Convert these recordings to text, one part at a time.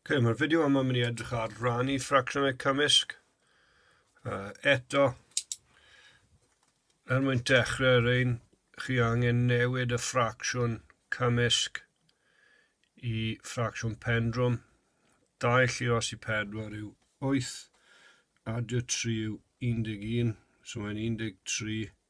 okay, mae'r fideo yma mynd i edrych ar rannu ffracsiynau cymysg. Uh, eto, er mwyn dechrau ar ein, chi angen newid y ffracsiwn cymysg i ffracsiwn pendrwm. 2 llu os i 4 yw 8, adio 3 yw 11, so mae'n 13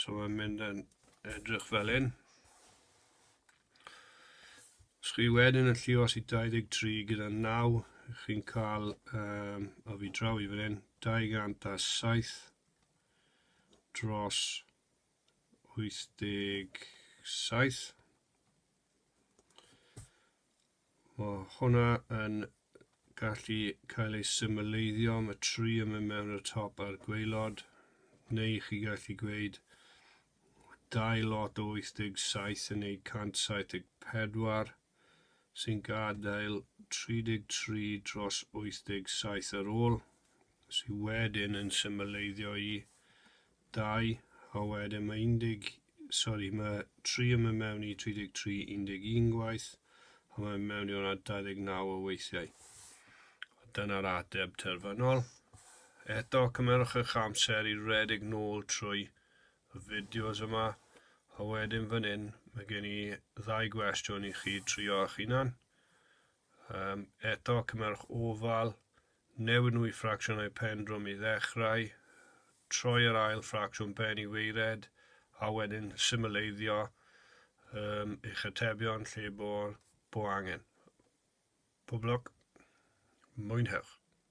So mae'n mynd yn edrych fel un. Os chi wedyn yn llios i 23 gyda 9, chi'n cael um, o fi draw i fan hyn, 207 dros 87. Mae hwnna yn gallu cael ei symleiddio, mae tri yn mynd mewn y top a'r gwaelod, neu chi gallu gweud dau lot o 87 yn neud 174, sy'n gadael 33 dros 87 ar ôl, sydd wedyn yn symleiddio i Dau, a wedyn mae 10, sori, mae 3 yn mynd mewn i 33, 11 gwaith, a mae'n mewn i hwnna 29 o weithiau. A dyna'r ateb terfynol. Eto, cymerwch eich amser i redeg nôl trwy y fideos yma, a wedyn fan hyn, mae gen i ddau gwestiwn i chi trio eich hunan. Um, eto, cymerwch ofal, Newid nhw i ffracsiynau pen drwm i ddechrau, troi yr ail ffracsiwn ben i weired, a wedyn symleiddio um, eich atebion lle bo'r bo angen. Pob lwc. Mwynhewch.